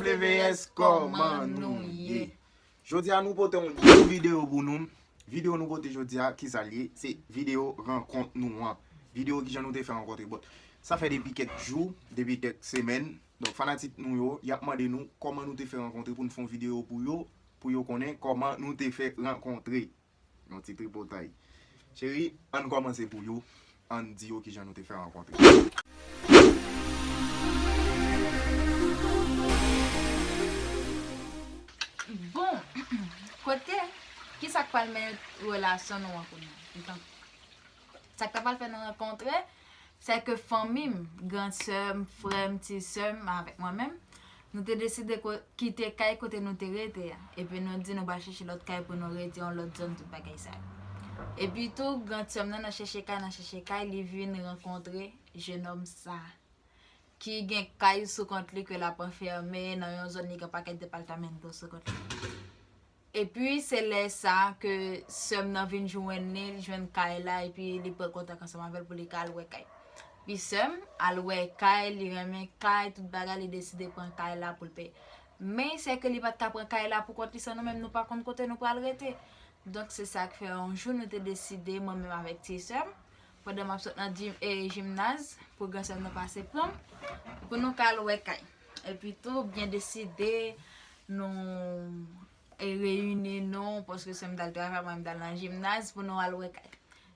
WS kòman nou ye? Jodi a nou pote yon gwo video pou nou Video nou pote jodi a ki sa l ye? Se video rankont nou an Video ki jan nou te fè rankontre Bon sa fè depi kèk jou Depi kèk semèn Donk fanatik nou yo y ap mande nou kòman nou te fè rankontre pou nou fè yon video pou yo Pou yo konnen kòman nou te fè rankontre Yon ti tripotay. Cheri, ann kòmanse pou yo, ann di yo kijan nou te fè rankontre. Bon, kote, kisa k pral mennen relasyon nou an kounye a? M tann. Sa k ta pral fè nou rankontre, se ke fanmi m, gran sè m, frè m, ti sè m avèk mwen menm, nou te deside kite kay kote nou te rete a. Epi nou di nou pral chèche lòt kay pou nou rete, yon lòt zòn, tout bagay sa yo. Epi tou, gran sè m nan, nan chèche kay, nan chèche kay, li vin rankontre jenòm sa a. Ki gen kay sou kont li ke l ap anfème nan yon zòn li gen pakèt departamento sou kont li. Epi se lè sa a ke sè m nan vin jwenn li, li jwenn kay la epi li pran kontak ansanm avè l pou li ka al wè kay. Epi sè m al wè kay, li renmen kay, tout bagay, li deside pran kay la pou l peye. Men sè ke li pa t ka pran kay la pou kont li san nou menm, nou pa konn kote nou pral rete. Donk se sa k fè yon jou nou te deside mwen menm avèk ti sè m, pandan m ap sot nan jimnaz, pou gran sè m nan pase pran m, pou nou ka al wè kay. Epi tou byen deside nou reyini nou paske sèm dal travay mwen dal nan jimnaz pou nou al wè kay.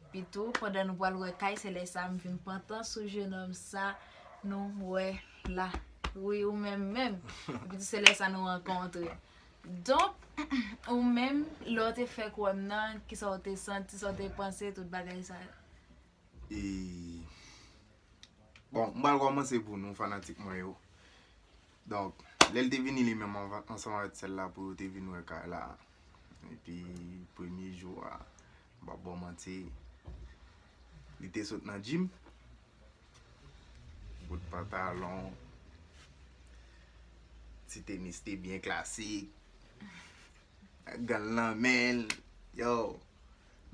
Epi tou pandan nou pral wè kay se lè sa m vin pantan sou jenòm sa nou wè la. Wi ou menm menm. Epi tou se lè sa nou rankontre. Donk ou menm lè w te fèk wè m nan kisa w te santi, sa w te panse tout bagay sa yo? E Bon m pral kòmanse pou nou fanatik mwen yo Donk lèl te vini li menm ansanm avèk sèl la pou yo te vin wè kay la Epi premye jou a m pap baw manti Li te sot nan gym Bout pantalon Ti tenis te byen klasik Ak gan l nan menl Yow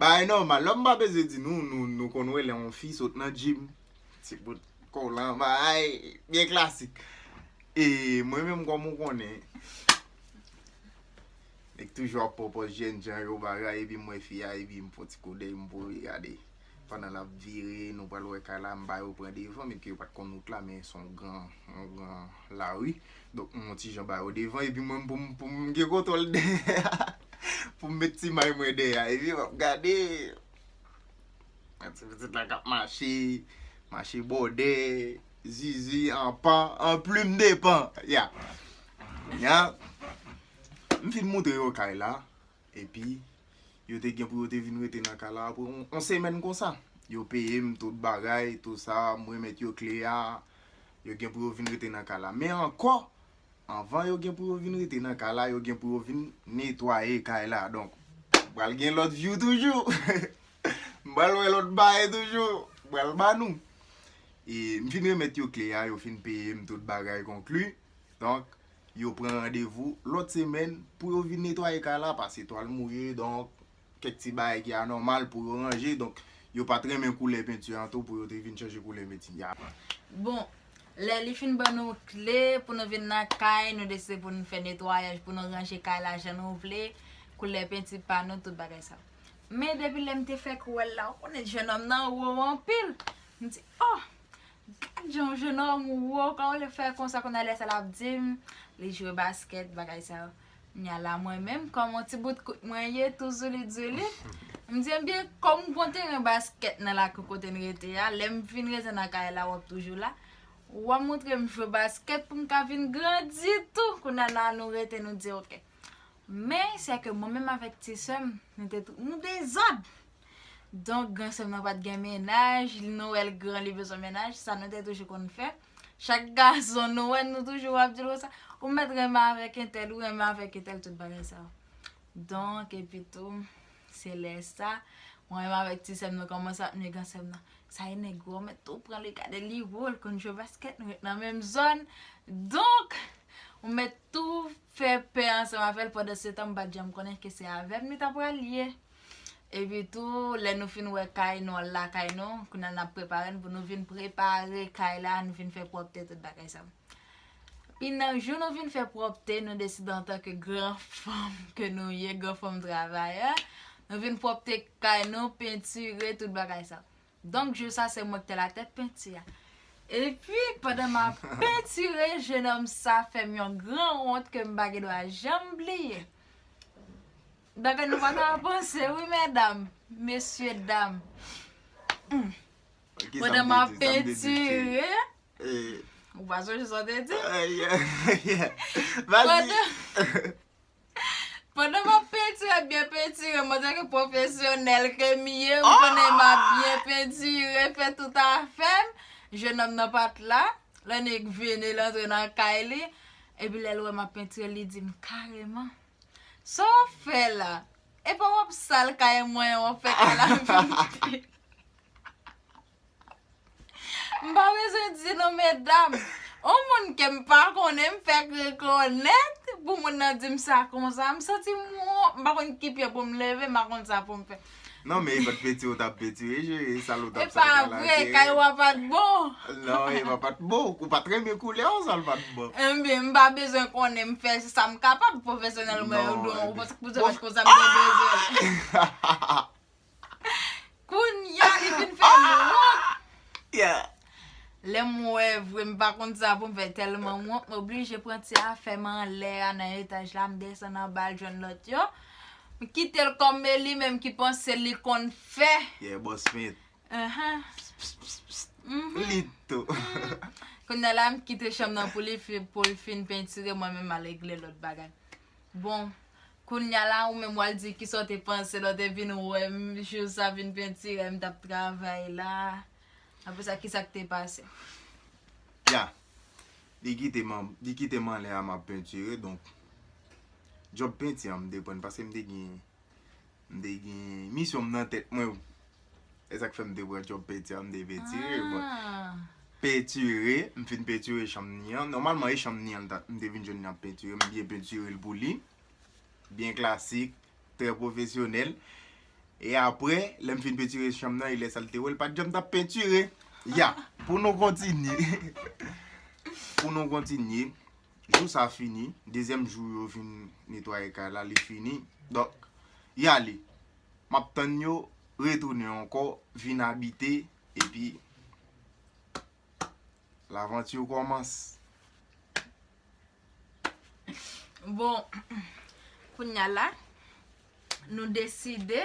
Bagay nòmal la, m pa bezwen di nou, nou konn wè lè yon fi sot nan gym, ti bout kolan, bagay byen klasik. E mwen menm kòm ou konnen, nèg k toujou ap pwopòz jènjan yo bagay epi m wè fi a epi m fè yon ti koudèy m voye gade. Pandan l ap vire, nou pral wè kay la, m ba yo pran devan, menm ke yo pa t konn wout la men s on gran, yon gran lari. Donk m on ti jan ba yo devan epi mwen pou m pou m gen kontwòl dèyè a. Pou m met ti may mwen dèyè a. Epi wap gade yon ti pitit la kap mache, mache bòdè, zuzu an pan, an plim de pan. Ya. Ya. M fin moutre yo kay la. Epi yo te gen pou yo te vin rete nan kay la pou on semèn konsa. Yo peye m tout bagay, tout sa, m remèt yo kle a. Epi. yo gen pou yo vin rete nan ka la. Men ankò, anvan yo gen pou yo vin rete nan ka la, yo gen pou yo vin netwaye kay la. Donk, pral gen lòt vyou toujou. M pral wè lòt bagay toujou. M pral ba nou. E m fin remèt yo kle a, yo fin peye m tout bagay konkli. Donk, yo pran randevou lòt semèn pou yo vin netwaye kay la pase twal mouye. Donk, kèk ti bagay ki anòmal pou yo ranje donk yo pat renmen koulè penti an tou pou yo te vin chanje koulè meti ya. Bon Lè li fin ban nou kle pou nou vin nan kay nou deside pou nou fè netwayaj pou nou ranje kay la jan nou vle koulè penti pa nou tout bagay sa men depi lèm te fèk wèl la ou konnen jenòm nan wo anpil m di oh gad jan yon jenòm wo kòman li fè konsa kounya lè sa lap dim li jwe baskèt bagay sa yo. Knya la mwen menm kòm yon ti bout kout mwen ye tou zoulit zoulit, m di ebyen kòm gon teren baskèt nan lakou kote n rete a, lè m vin rete nan kay la w ap toujou la, w a montre m jwe baskèt pou m ka vin grandi tou, kounya la nou rete nou di ok. Men sè ke mwen menm avèk ti sè m nou te tou nou dezòd, donk gran sè m nan pa t gen mennaj, nou wè l gran li bezwen mennaj, sa nou te toujou konn fè. Chak gason nou wè nou toujou ap dil konsa ou mèt renmen avèk entèl ou renmen avèk entèl tout bagay sa yo. Donk epi tou se lè sa mwen renmen avèk ti sèm nan kòmanse ap nye gran sèm nan. Sa e nèg wè ou mèt tou pran li gade li wo l konn jwe baskèt nou ret nan menm zòn. Donk ou mèt tou fè pè ansanm avè l pandan se tan m pa t janm konnen ke se avè m li ta pral ye. Epi tou, lè nou fin wè kay nou, al lakay nou, kounye a n ap prepare n pou nou vin prepare kay la, nou vin fè pwòpte tout bagay sa. Pi nan jou nou vin fè pwòpte, nou deside antanke gran fanm ke nou ye, gran fanm travayè, nou vin pwòpte kay nou, pentire tout bagay sa. Donk jou sa se mwen ki te la tèt penti a. Epi, pandan m ap pentire, jenòm sa fè m yon gran wont ke m pa gen dwa janm bliye. Bagay nou paka avanse wi medam mesye dam humm Madanm ap pentire Ou pa sonje sa w te di Pandan m ap pentire byen pentire mwen tanke pwofesyonèl ke m ye ou konnen m ap byen pentire fè tout afè m jenòm nan pa t la l annik vini l antre nan kay li epi lè l wè m ap pentire li di m kareman Sa wap fè la? Epa wap sal kay mwen an wap fè kay la vide. M pa bezwen di non medam. On moun kem pa konnen m fèk rekonèt pou moun nan dim sa konsa. M santi m wont m pa konn ki pye pou m leve m pa konn sa pou m fè. Non men e pat penti ou tap penti wi cheri sa lou tap sa kalate. E pa vre kay ou a pat bon. Non e pa pat bon ou pat renmen koulè ou sa l pat bon. Enbyen m pa bezwen konnen m fè sa m kapab pwofesyonèlman yo dou ou paske pou zòrèt konsa m te bezwen. Kounya li fin fè m wont. Yeah. Lèm wè vre m pa konn sa poum fè tèlman m wont m oblije pran ti afè m anlè a nan etaj la m desann anba al jwenn lòt yo. M kitel kòm Meli menm ki panse li konn fè. Yeah boss fent. Ahan. Pss pss pss pss. Uhmm. Li t tou. Kounya la m kite chanm nan pou li fin pou l fin pentire mwen menm m al regle lòt bagay. Bon Kounya la ou menm wal di kisa w te panse lè w te vin wè m jou sa vin pentirem tap travay la. Apre sa kisa k te pase? Ya. Li kite m, li kite m anlè a m ap pentire donk djòb penti an m te pran paske m te gen, m te gen misyon m nan tèt mwen. Se sa k fè m te pran djòb penti an m te pentire. Bon, pentire, m fin pentire chanm ni an. Nòmalman e chanm ni an m te vin jwenn li ap pentire, m byen pentire l pou li. Byen klasik. trè pwofesyonèl. E apre, lè m fin pentire chanm nan, e lè sa l te wè l pa t janm t ap pentire. Ya! Pou nou kontinye. Pou nou kontinye. Jou sa a fini. Dezyèm jou yo vin netwaye kay la, li fini. Donk, y ale. M ap tann yo retounen ankò, vin abite, epi. L'aventure commence. Bon, kounya la, nou deside,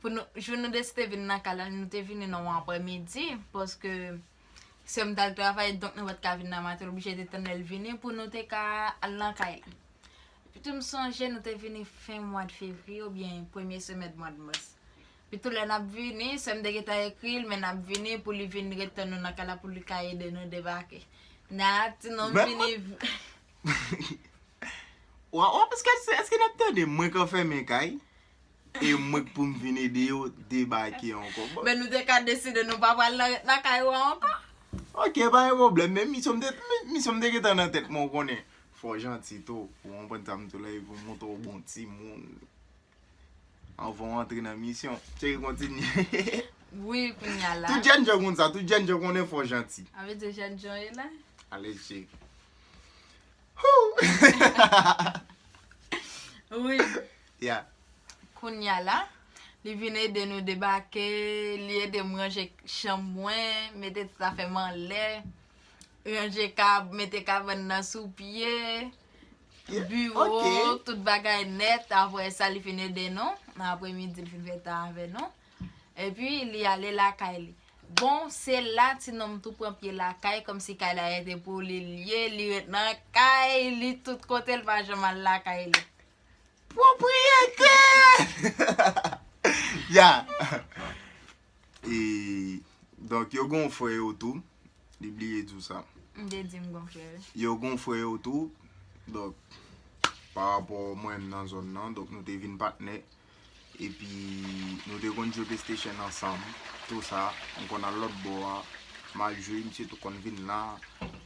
pou nou, jou nou deside vin nan kay la, nou te vini nan yon aprè midi, paske sè m tal travay, donk nou pat ka vin nan maten, nou oblije te tann lè l vini pou nou te ka al nan kay la. Pito m sonje nou te vini fen mwad fevriye oubyen premye semèn mwad mas. Pitou lè nap vini, sè m te gentan ekri l men nap vini pou li vin ret tann nou nan kay la pou li ka ede nou debake. Nana ak ti nonm vini. Wap wap eske eske nap tande mwen k anfèmen kay e mwen k pou m vin ede yo debake ankò bon. Men nou te ka deside nou pa pral nan nan kay ou an ankò. Ok pa gen pwoblèm men misyon m te misyon m te gentan nan tèt mwen ou konnen fò w janti tou ou konprann sa m di w la epi w montre w bon timoun. Anvan w antre nan misyon. Cheri kontinye. Wi kounya la. Tout jèn jan konn sa. Tout jèn jan konnen fò w janti. A vle di jèn jan e la. Ale cheri. Hoo. Wi. Ya. Kounya la. Li vin ede nou debake. Li ede m ranje chanm mwen. Mete tout afè m anlè. Ranje kab. Mete kabann nan sou pye. Biro, tout bagay nèt, apre sa li fin ede nou, nan apre midi li fin fè tan avè nou, epi li ale lakay li. Bon, se la ti nonm tou pran pye lakay, kòm si kay la rete pou li li ye, li ret nan kay li tout kote, li pa janm al lakay li. Pwopriyete! Ya! E donk yo gon frè yo tou, li bliye di w sa. M te di m gon frè wi. Yo gon frè yo tou, donk pa rapò mwen m nan zòn nan, donk nou te vin patnè. Epi nou te konn jwe playstation ansanm, tou sa. M konn al lòt bò a, m al jwe, misye tou konn vin la.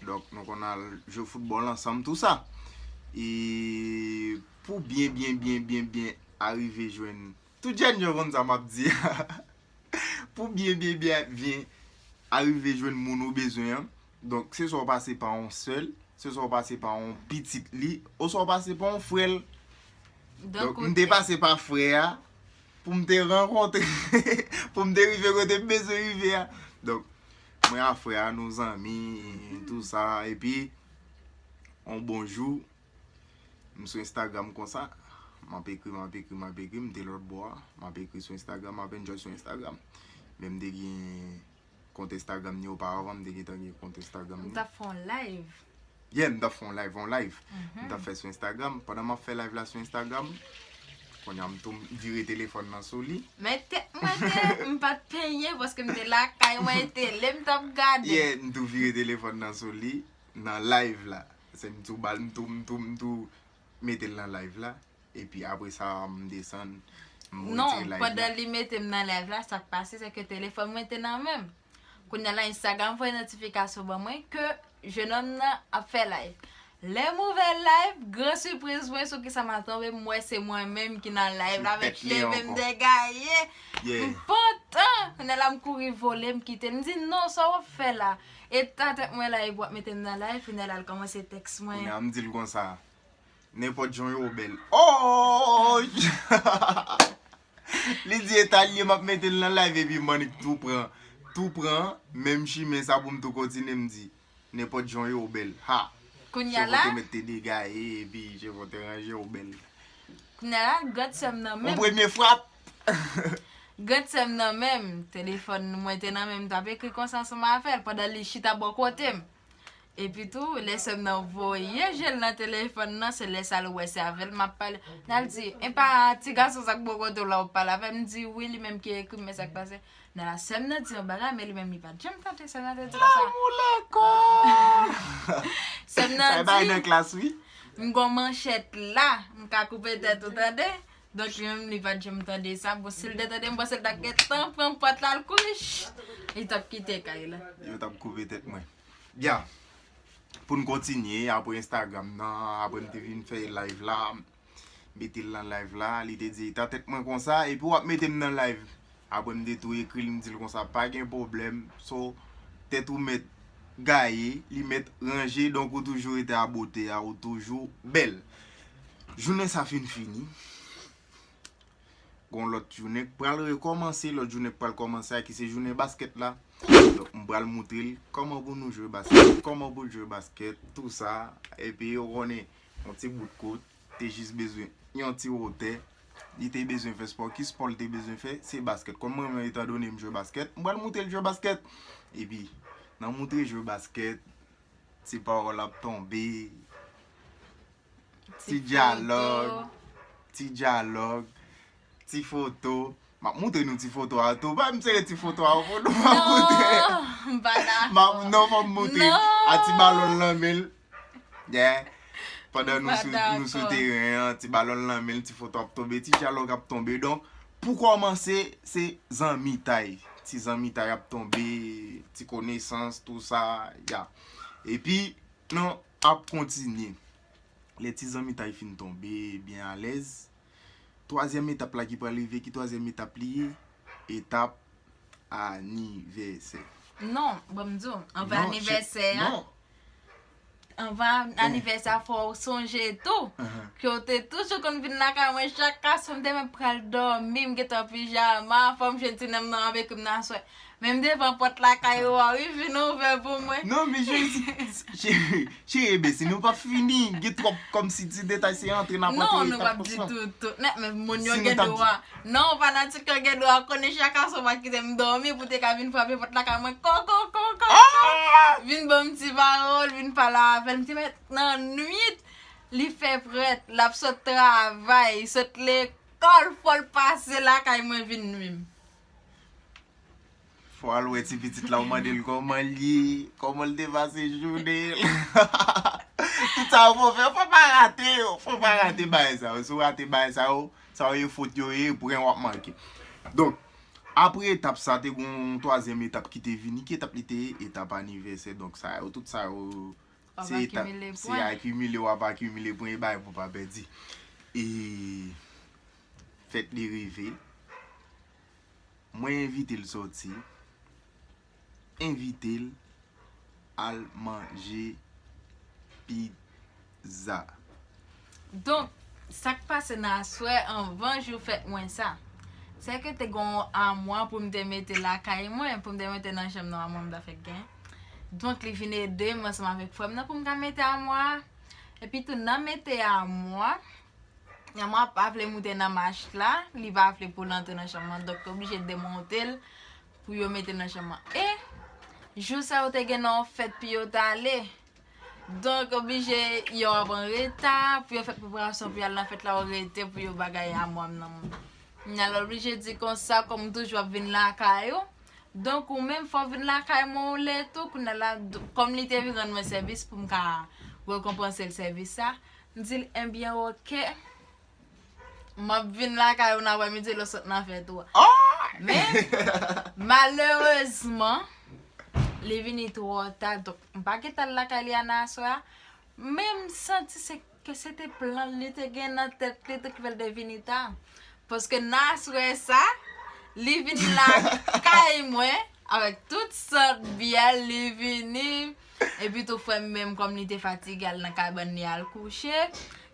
Donk nou konn al jwe foutbòl ansanm, tou sa. E pou byen byen byen byen byen arive jwenn. Tout jèn yo konn sa map di a. Pou byen byen byen arive jwenn moun ou bezwen an, donk se swa w pase pa yon sè l, se swa w pase pa yon pitit li, oswa w pase pa yon frè l. Donk m te pase pa frè a pou m te rankontre, pou m te rive kote m bezwen rive a. Donk mwen a frè a nou zanmi, tou sa, epi yon bon jou. M sou Instagram konsa, m ap ekri, m ap ekri, m ap ekri, m te lòt bò a, m ap ekri sou Instagram, m ap enjoy sou Instagram. Men m te gen kont Instagram ni oparavan, m te gentan gen kont Instagram ni. Ou t ap fè yon live? Yeah, m t ap fè yon live, yon live m t ap fè sou Instagram. Pandan m ap fè live la sou Instagram, kounye a m tonm, m vire telefòn nan sou li. Men tèt mwen te, m pa t penyen paske m te lakay mwen, tele m t ap gade. Yeah, m tou vire telefòn nan sou li nan live la. Se m tou bal m tou m tou m tou mete l nan live la epi apre sa m desann m retire live la. Non, pandan li mete m nan live la sak pase se ke telefòn mwen te nan men m. Kounya la Instagram voye notifikasyon ban mwen ke jenòm nan ap fè live. Lè m ouvè live, gran sipriz mwen sou kisa m atonbe m wè se mwen menm ki nan live la avèk cheve m degaye. M pantan! Kounya la m kouri vole m kite l m di non sa w ap fè la? Eta tèt mwen la epi wap metem nan live pou nèl al kòmanse tèks mwen. Kounya m dil konsa. Nenpòt jan w ye w bèl. Ooyy! Li di eta l ye map metel nan live epi Manick tou pran tou pran menm chimen sa pou m tou kontinye m di nenpòt jan w ye w bèl. Ha! Kounya la. Cheve w te met te degaye epi cheve w te ranje w bèl. Kounya la grande sè m nan menm. Yon premye frap! Grande sèm nan menm, telefòn mwen te nan menm m tap ekri konsa sou ma fèl pandan li chita bò kotem Epi tou lè sèm nan voye jel nan telefòn nan se lè sa l wè se avèl map pale Nal di epa ti gason sa k bò kote w la wap pale avèm m di wi li menm ki ekrim men sak pase Nana sèm nan di yon bagay men li menm li pat janm tande sèm nan te di konsa Lanmou lekòl Sèm nan di Sa e bagay nan klas wi M gon manchèt la m ka koupe tèt ou tande Dòt li menm li pat janm tande sa, bon sil te tande m panse l tap gentan pran pòt la l kouri chut li tap kite kay la. Yo tap koupe tèt mwen. Ya poun kontinye apre instagram nan apre m te fin fè live la metel nan live la li te di eta tèt mwen konsa epi wap metem nan live Apre m te tou ekri l m di l konsa pa gen pwoblèm so tèt ou mèt gaye li mèt ranje donk ou toujou rete a bote a ou toujou bèl jounen sa fin fini gon lòt jounen k pral rekòmanse lòt jounen k pral kòmanse a ki se jounen baskèt la donk m pral moutre l kòman pou nou jwe baskèt kòman pou l jwe baskèt tou sa epi ou konnen yon ti bout kout. te jis bezwen yon ti wotè, li te bezwen fè spò. Ki spò li te bezwen fè? Se baskèt. Kòm mwen menm etan done m jwe baskèt, m pral moutre l jwe baskèt. E pi, nan moutre jwe baskèt, ti pawòl ap tonbe, ti dyalòg, ti dyalòg. Ti foto M ap montre nou ti foto a tou Ba m sere ti foto a pou nou Nan m pa dakò Non fò m montre A ti balon l nan men l Pandan nou sou teren an Ti balon l nan men l Ti foto ap tonbe Ti dyalòg ap tonbe Donk pou kòmanse se zanmitay Ti zanmitay ap tonbe Ti konesans tou sa Ya Epi nou ap kontinye Lè ti zanmitay fin tonbe byen alèz Twazyèm etap la ki pral rive, ki twazyèm etap li ye? Etap anivèsè. Non, bon m di w, anvan anivèsè a, anvan anivèsè a fò w sonje tou, ke w te toujou konn vin lakay mwen chak aswè, m te menm pral dòmi, m gen tan pijama, fò m jwenn ti nonm nan avèk m nan aswè. Menm devan pòt lakay ou a wi vin ouvè pou mwen. Non men jezi Cheri ebyen si nou pap fini gen twòp kòmsi ti detay se antre nap antre Non nou pap di tout Nan men moun yo gen dwa Non fanatik yo gen dwa konnen chaka sou pa kite m dòmi pou te ka vin frape pòt lakay mwen kokokoko Vin ban m ti pawòl vin pale avè m ti mèt nan nwit Li fè prèt lap sot travay sot lekòl fò l pase lakay mwen vin nwi m. Fò al wè ti pitit la ou mande l kòman l ye, kòman l te pase jounen l. Tout sa yo fò fè, fò pa rate yo, fò pa rate bagay sa yo. Si w rate bagay sa yo, sa yo ye fot yo ye, pou gen w ap manke. Donk, apre etap sa te gen yon twazyèm etap ki te vini, ki etap li te ye? Etap anivèsè. Donk sa yo, tout sa yo, se etap, se akimile w ap akimile pwen e bagay pou w pa pèdi. E, Fèt li rive, mwen envite l sòti, envite l al manje pizza. Donk, sa k pase nan aswè anvan jou fèt mwen sa? Se ke te gen yon amwa pou m te mete lakay mwen, pou m te mete nan chanm nan amwa m ta fèk gen. Donk, li vin ede m ansanm avèk frè m nan pou m ka mete amwa a. Epitou, nan mete amwa, Maman an pa vle moute nan mach la, li pa vle pou l antre nan chanm lan, dòk te oblije demonte l pou yo mete l nan chanm lan. E, jou sa yo te gen nan yon fèt pou yo t ale. Donk, oblije, yo ap an reta, pou yo fè preparasyon pou y al nan fèt la, yo rete pou yo bagay a mwam nan moun. Kounye la oblije di konsa, kòm ou toujou ap vin lakay ou, donk ou menm fò w vin lakay mwen yon lè tou, kounye la, kòm li te vin rann mwen sèvis pou m ka rekonpanse l sèvis sa, M di l enbyen ok, m ap vin lakay ou nan aprè midi lè w sot nan fèt ou a. Men, malerezman, li vini twò ta, donk m pa gen tan lakay li a nan aswè a. Men m santi se ke se te plan li te gen nan tèt li tou ki fè l te vini ta. Paske nan aswè sa, li vini lakay mwen avèk tout sòt byè, li vini. Epitou frè m menm kòm li te fatige al nan kabann li al kouche,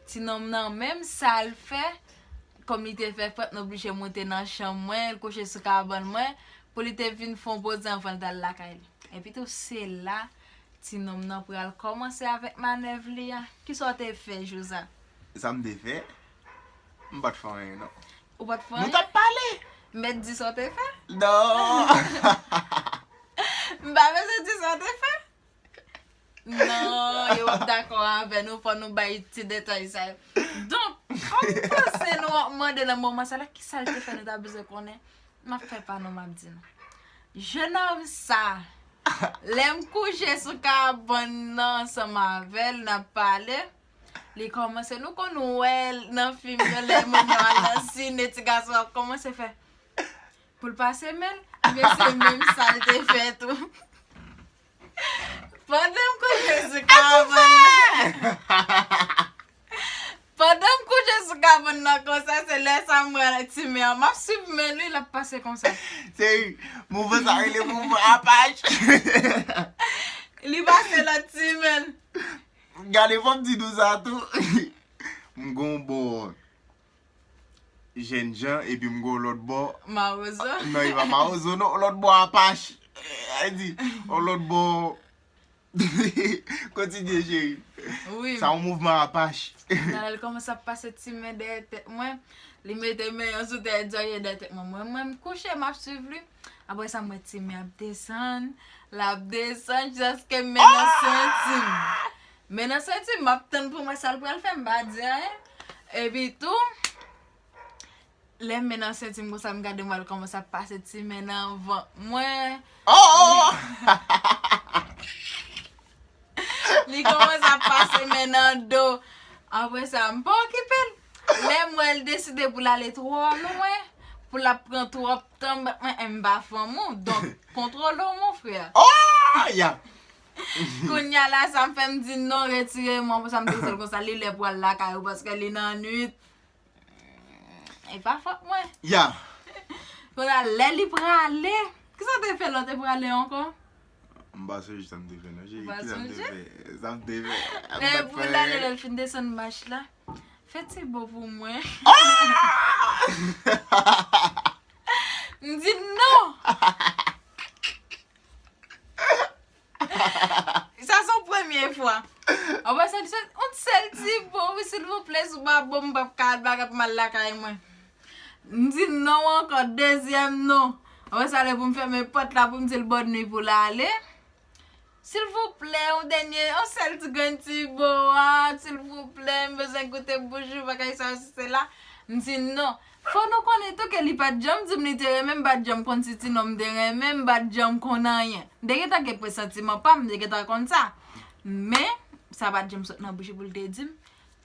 ti nonm nan menm sa l fè, kòm li te fè frèt l oblije moute nan chanm mwen, l kouche sou kabann mwen, pou li te vin fon poze anvan l t al lakay li. Epitou se la ti nonm nan pral kòmanse avèk manèv li a. Kisa w te fè jou sa? Sa m te fè? M pa t fè anyen non. Ou pa t fè anyen? Nou t ap pale. M mèt di sa w te fè? Non. M pa bezwen di sa w te fè? Non, yo ap dakò avè nou, fò nou bay ti detay sa yo. Donk, kòm m panse nou ap mande nan moman sa la ki sa l te fè nou ta bezwen konnen, m ap fè pa nou m ap di nou. Jenòm sa, lè m kouche sou kabann nan ansanm avè l n ap pale, Li kòmanse, nou konn wè l nan fim yo lè moun yo al nan sine ti gason an ap kòmanse fè pou l pase men l, ebyen se menm sa l te fè tou. Pandan m kouche sou kabann nan. Pandan m kouche sou kabann nan konsa se lè sa m wè ti men an, m ap swiv men l wi l ap pase konsa. Se mouvman sa rele mouvman apach. Li pase lòt ti men l. Gade fòm ti dou sa tou. M gon w bò jènjan epi m gon w lòt bò. Mawozo. Non e pa mawozo non, lòt bò apache. Ay di, on lòt bò kontinye cheri. Wi. Sa on mouvman apache. Gade l kòmanse ap pase ti men dèyè tèt mwen. Li mete men yon sou dèyè zorye dèyè tèt mwen. Mwen menm m kouche m ap swiv li. Apre sa m wè Timi ap desann, l ap desann jiskaske men nan senti m. Men nan senti m, m ap tann pou m wè sa l pral fè, m pa di anyen. Epi tou, lè men nan senti m konsa, m gade m wè l kòmanse ap pase ti men nan vant mwen. Li kòmanse ap pase men nan do. Apre sa, m pa okipe l. Lè m wè l deside pou l ale twò lwen, pou l ap pran twòp Tanm bat mwen em pa fanm ou donk kontrole w mon frè. Ooh ya! Kounya la sa m fè m di non retire mwen pou sa m te di l konsa li lè pou al lakay ou paske li nan nwit. E pa fòt mwen. Ya! Kounya lè li prale, kisa w te fè lè w te prale ankò? M pa sonje sa m te fè non cheri. Ou pa sonje? Kisa m te fè? Sa m te fè. Lè pou l ale lè l fin desann mach la. Fè ti bo pou mwen. M di non! Sa son premye fwa. Apre sa li sot, on ti sèl ti bo wi silvouplè, si w pa ban m m p ap ka al bagay pou m al lakay mwen. M di non ankò, dezyèm non. Apre sa lè pou m fèmen pòt la pou m di l bòn nui pou l ale. Silvouplè yon dènye yon sèl ti grenn ti boat silvouplè m bezwen goute boujou bagay sa yo si se la m di non fò nou konnen tou ke li pat janm di m li te renmen m pat janm konn si ti nonm te renmen m pat janm konn anyen m te gentan gen presantiman pa m m te gentan konn sa men sa pat janm sot nan bouch li pou l te di m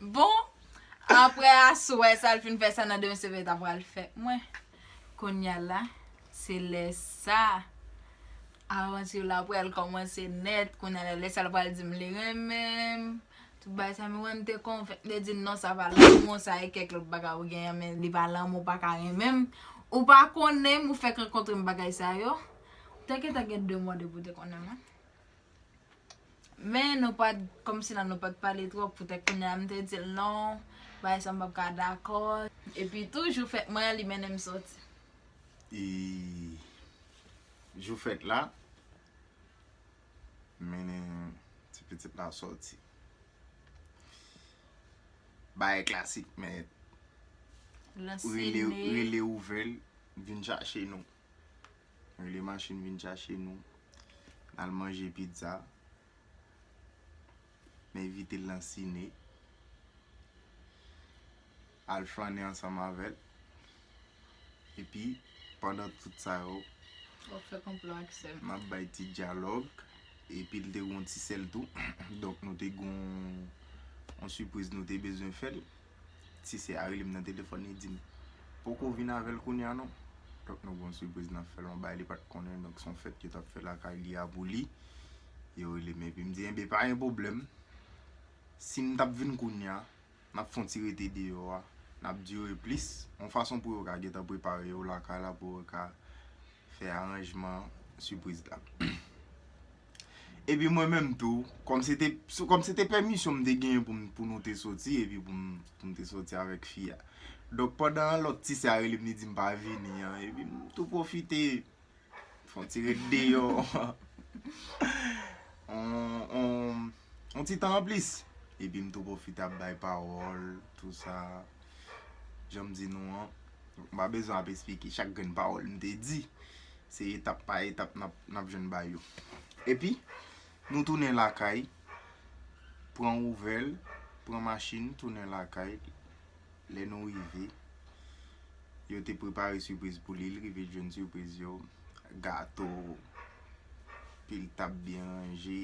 Bon, apre aswè sa l fin fè sa nan demen se vè ta pral fè mwen. Kounya la, se lè sa avanti la pral kòmanse nèt. Kounya la, lè sa l pral di m li renmen m. Tout bagay sa men wè m te konvenk li di non sa pa lanmou sa e kèk lòt bagay ou genyen men li pa lanmou ou pa ka renmen m. Ou pa konnen m ou fèk rankontre m bagay sa yo. Te gentan gen 2 mwa depi w te konnen mwen. Men nou pat, kòm si la nou pat pale twòp, poutèt kounye a m te di l non, bagay sa m pap ka dakò. Epi tou jou fèt mwen an li mennen m sòti. E jou fèt la, m mennen ti pitit la sòti. Bagay klasik men, rele ouvè l vin chache nou. Rele machin vin chache nou. N al manje pizza. N envite l nan sine. Al flannen ansanm avè l. Epi, pandan tout sa yo. W ap fè konplo ak sè l. M ap bay ti dyalòg. Epi l te gen yon ti sè l tou. Donk nou te gen yon sipriz nou te bezwen fè l. Ti sè a rele m nan telefòn li di m, Poko vin avè l kounye a non. Donk nou gen yon sipriz n ap fè l, yon bagay li pa t konnen, donk se yon fèt yo t ap fè lakay li a pou li. Yo rele m epi m di, Enben pa gen pwoblèm, si m t ap vin kounye a, n ap fè yon ti rete deyò a, n ap dire plis, yon fason pou yo ka gentan prepare yo lakay la pou yo ka fè aranjman sipriz la. Epi mwen menm tou, kòm se te, kòm se te pèmisyon m te genyen pou m, pou nou te soti epi pou m, pou m te soti avèk fi a. Donk pandan lòt ti sè a rele m li di m pa vini an, epi m tou pwofite fè yon ti ret deyò, yon ti tan anplis. Epi m tou pwofite ap bay pawòl, tou sa. Jan m di nou an, m pa bezwen ap esplike chak grenn pawòl m te di. Se etap pa etap nap jwenn bay yo. Epi nou tounen lakay, pran ouvèl, pran machin tounen lakay, lè nou rive, yo te prepare sipriz pou li, li rive jwenn sipriz yo, gato, pil tab byen ranje,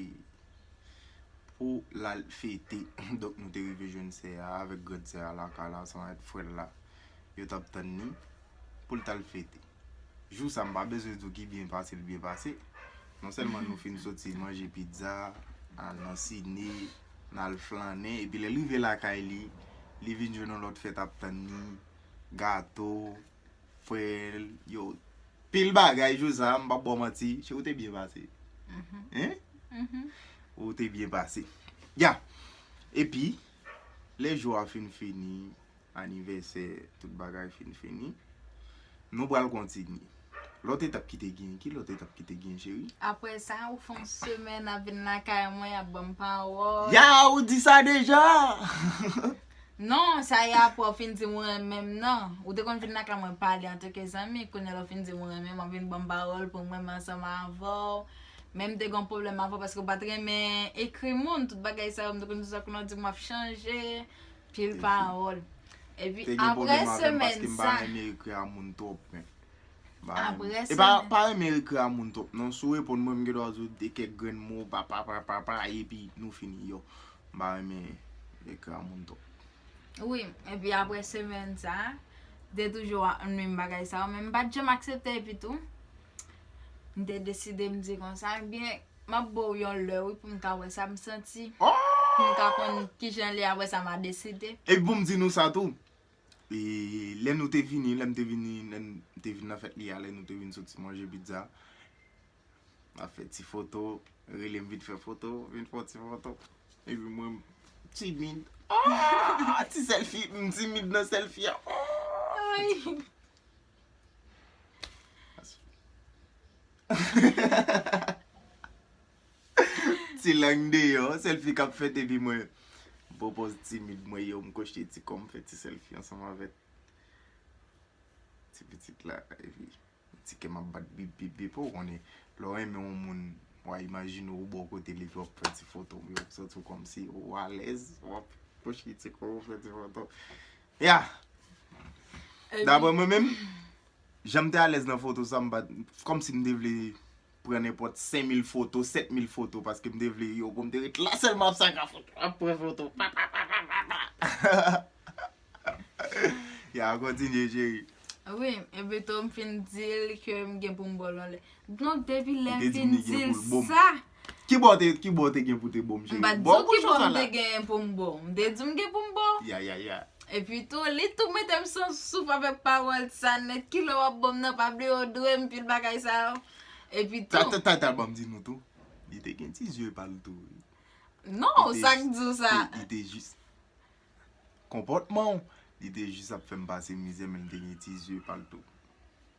pou lal fete, donk nou te rive jwenn sè a, avèk grand sè a lakay la, san et frè la, yo tap tann ni, poul tal fete. Jou sa m pa bezwen di w ki byen pase l byen pase. Non sèlman nou fin soti manje pizza, al nan sine, n al flannen epi lè l rive lakay li, li vin jwenn yon lòt fèt ap tann li, gato, frè l yo, pil bagay jou sa m p ap ba w manti cheri w te byen pase. Hein? Ou te byen pase. Ya! Epi, lè jou a fin fini, Anivèsè tout bagay fin fini. Nou pral kontinye. Lòt etap ki te genyen? Ki lòt etap ki te genyen cheri? Aprè sa, ou fè yon semèn ap vin lakay mwen, y ap ban m pawòl. Ya! Ou di sa deja? Non, sa y aprè ou fin di m ou renmen m nan. Ou te konn vin lakay mwen pale antanke zanmi, kounye a lè ou fin di m ou renmen m, w ap vin ban m pawòl pou m renmen ansanm avè w. Men m te gen yon pwoblèm avè w paske ou pa t renmen ekri moun. Tout bagay sa yo, m te konn di w sa kounye a ou di m w ap chanje. Pil pawòl. Epi Te gen apre pwoblèm avè m paske semenn m pa sa. renmen ekri a moun twòp men. M pa renmen. Apre E pa, semenn. pa renmen ekri a moun twòp non. Si w reponn mwen m gendwa di w de kèk grenn mo papapapapa epi nou fini yow. M pa renmen ekri a moun twòp. Wi, epi apre semenn sa, te toujou a menm bagay sa yo men m pa t janm aksepte epitou. M te deside m di konsa ebyen m ap ba w yon lè wi pou m ka wè sa m santi. Pou m ka konn ki jan l ye apre sa m a deside. E pou m di nou sa tou, e lè nou te vini, lè m te vini, lè m te vin nan fèt li a, lè nou te vin soti manje pizza, m ap fè ti foto, rele m vin fè foto, vin fè ti foto. Epi mwen m timid. Ti sèlfi, m timid nan sèlfi a. Ti lang deyò, selfie kap fèt epi mwen Bon pòz timid mwen yo, m kochte ti kòm fè ti selfie ansanm avèk ti pitit la epi ti kèm ap bat bip bip bip ou konnen lè w renmen yon moun wa imajine w bò kote l epi wap pran ti foto, yo ap santi w kòmsi ou alèz wap kochte ti kò w fè ti foto. Ya! Daprè mwen menm, jan m te alèz nan foto sa, m pa t, kòm si m te vle pran nenpòt 5000 foto, 7000 foto, paske m te vle yo pou m te ret la sèlman ap sa ka foto, ap pran foto, pa pa pa pa pa pa. Ya, kontinye cheri. Wi, epito m fin di l ke m gen pou m ba w yon lè. Donk depi lè m fin di l sa. Kibò ou te gen pou te bo m cheri? M pa t di w kibò m te gen pou m bo w. M te di w m gen pou m bo w. Ya ya ya. Epi tou, li tou mete m san souf avèk pawòl sa nèt kilè w ap bo m nan pa bliye w dwe m pil bagay sa yo. Epi tou. Ta ta ta ban m di nou tou. Li te gen ti zye pa l tou wi. Non, sa k di w sa? Li te jis. Konpòtman w. Li te jis ap fè m pase mizè men li te gen ti zye pa l tou.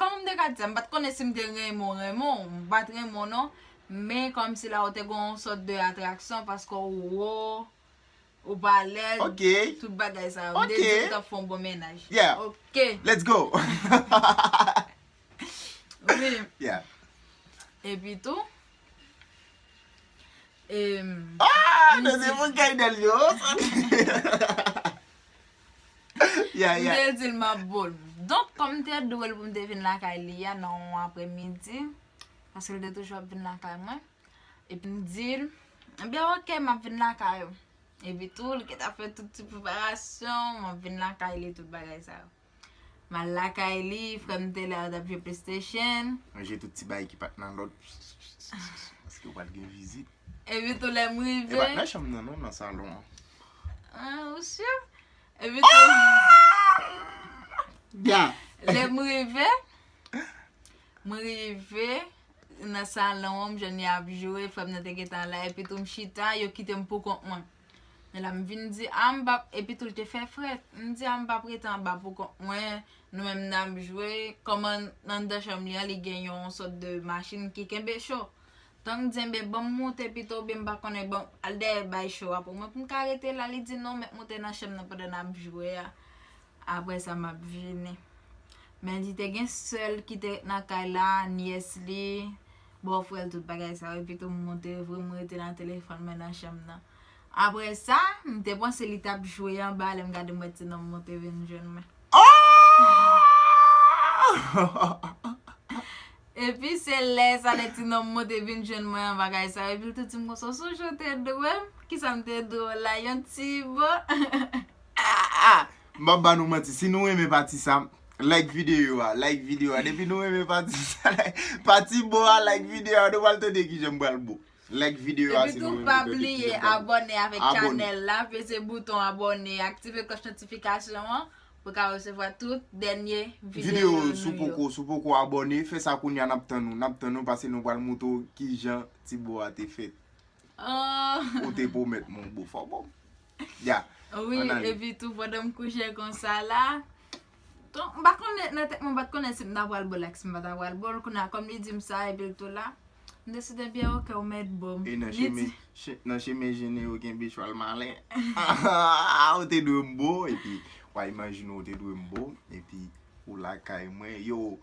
Kòman m te ka di sa? M pa t konnen si m te renmen w renmen w. M pa t renmen w non. Men kòmsi la ou te gen yon sòt de atraksyon paske w wo, ou pa lèd, tout bagay sa yo. M te di w m t ap fè yon bon mennaj. Epi tou, e m. M te di l m ap bo l. Donk, kòm m te dwe l pou m te vin lakay li a nan yon apremidi, paske l te toujou ap vin lakay mwen, epi m di l, Ebyen ok, m ap vin lakay ou. Epi tou, li gentan fè tout ti preparasyon, m ap vin lakay li, tout bagay sa yo. M al lakay li, frè m te la, yo t ap jwe Playstation. Ranje tout ti bagay ki pa t nan lòd. Psst, paske pral gen vizit. Epi tou lè m rive. E pa t nan chanm nan non, nan salon an. Ou sur? Bya. Lè m rive, m rive nan salon an, m jwenn y ap jwe, frè m nan te gentan la, epi tou m chita, yo kite m pou kont mwen. Men la m vin di, a m pa, epi tou l te fè frèt, m di a m pa rete anba pou kont mwen, nou menm n ap jwe, kòman anndan chanm li an li gen yon sòt de machin ki kenbe cho. Tank djenbe banm moute pito oubyen m pa konnen banm al dèyè bay cho a pou mwen pou m ka rete la li di non mèt moute nan chanm nan pandan nap jwe a aprè sa map vini men li te gen sè l ki te ret nan kay la nyès li bò frè l tout bagay sa yo pito m moute vre m rete nan telefòn mwen nan chanm nan aprè sa m te panse li tap jwe anba lè m gade m wè ti nonm moute vin jwenn mwen oohh. Epi se lè sa lè ti nonm mwen te vin jwenn mwen an bagay sa yo epi l te di m konsa w sonje w te dwe m kisa m te dwe w la yon ti bo aa. M pap ba nou manti si nou renmen pati sa like video a like video a depi nou renmen pati sa pati bo a like video a nou pral tande kijan m pral bo like video a si nou renmen tande kijan m pral bo. Epi tou pa bliye abòne avèk chanèl la peze bouton abòne aktive klòch notifikasyon an Pou ka resevwa tout dènye video nou yo. Sou poko sou poko abone fè sa kounya nap tann ou nap tann ou pase nou pral moutre ou kijan ti bo a te fèt Ohh ou te pwomèt mwen ou bo fò bon Ya Wi epi tou pandan m kouche konsa la Ton m pa konnen nan tèt mwen m pat konnen si m ta pral bo l ak si m pa ta pral bo l kounya kòm li di m sa epi l tou la. M deside byen ok ou mèt bo m. E nan chemen jene yo genbe chwal malen. Ahaa ou te dwe m bo epi wa imajine ou te dwe m bo epi ou lakay mwen yow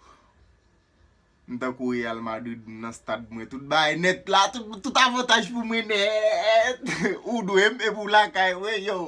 m tankou Real Madrid m nan stad mwen tout bagay nèt la tout avantaj pou mwen nèt ou dwe m epi ou lakay mwen yow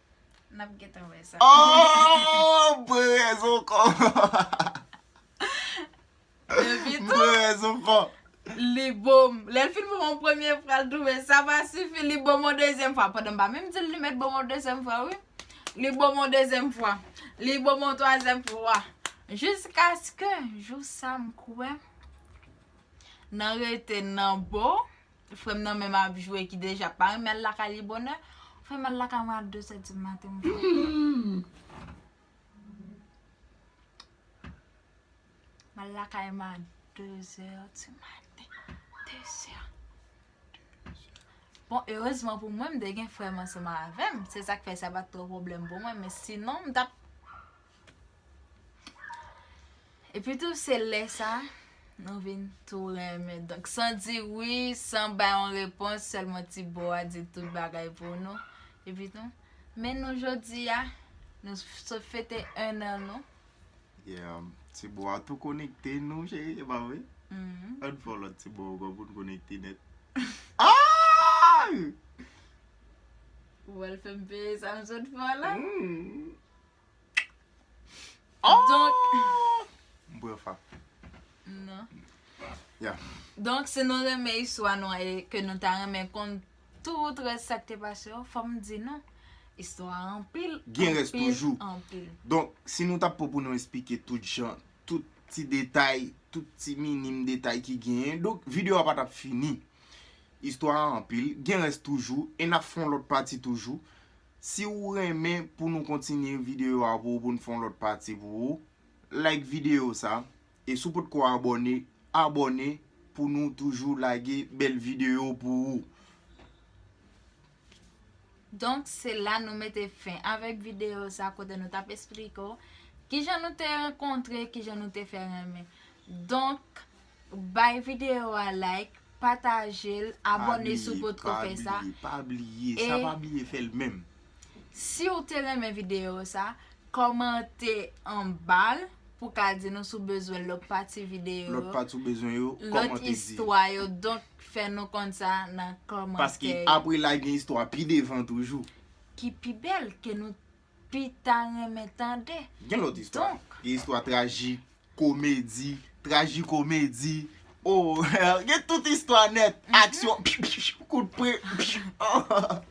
Nap getan wè sa. Oh, mwen rezon kon. Epi tou. Mwen rezon kon. Li bom. Lè l fin bom an premye fwa l twouve sa pa sifi li bom an dezyèm fwa. Pandan m pa menm di l li mèt bom an dezyèm fwa wi. Li bom an dezyèm fwa. Li bom an twazyèm fwa. Jiskaske jou sa m kwè nan rete nan bo. Frèm nan menm ap jwe ki deja pa renmen al lakay li bonè Ou fèm al lakay mwen a 2 zè di maten m fou M al lakay mwen a 2 zè di maten 2 zè Bon erezman pou mwen m te gen frèm ansanm avèm se sak fè sa pat twò pwoblèm pou mwen men sinon m tap Epi tou se lè sa nou vin tou renmen. Donk san di wi, san bay yon repons, sèlman ti bo a di tout bagay pou nou. Epi tou, men nou jodi a, nou sot fete 1 an nou. Yeah, ti bo a tou konekte nou cheri, e pa vre? Mm-hmm. An fè yon lòt ti bo ankò pou nou konekte nèt. Ou wè l fè m peye sa m sot fè w la? Mm-hmm. Donk si nou renmen istwa nou an e ke nou ta renmen konn tout rès sa k te pase yo, fòm di nou, istwa a anpil, anpil, anpil. Donk si nou ta pou pou nou esplike tout jan, tout ti detay, tout ti minim detay ki genyen, donk videyo a pa t ap fini. Istwa a anpil, gen rès toujou, e n ap fè yon lòt pati toujou. Si ou renmen pou nou kontinye videyo a pou ou pou nou fè yon lòt pati pou ou Like videyo sa E si ou potko abòne Abòne pou nou toujou lage bèl videyo pou ou. Donk se la nou mete fen avèk videyo sa kote nou tap esplike ou Kijan nou te rankontre kijan nou te fè renmen Donk Bay video a like, patajel, abone si w pot ko fè sa. Pa bliye, pa bliye, pa bliye, sa pa bliye fèl menm. Si w te renmen video sa, komante anba l pou ka di nou si w bezwen lòt pati video yo. Lòt pati w bezwen yo, komante di. Lòt istwa yo, donk fè nou konn sa nan komante yo. Paske apre la gen istwa pi devan toujou. Ki pi bèl ke nou. pita renmen tande. Gen lòt istwa. Gen istwa trajik, komedi, trajikomedi. Oo gen tout istwa nèt. Aksyon pip pip kout pre pip oo.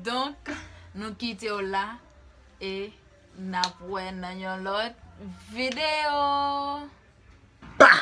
Donk nou kite w la e nap wè nan yon lòt video. Bah!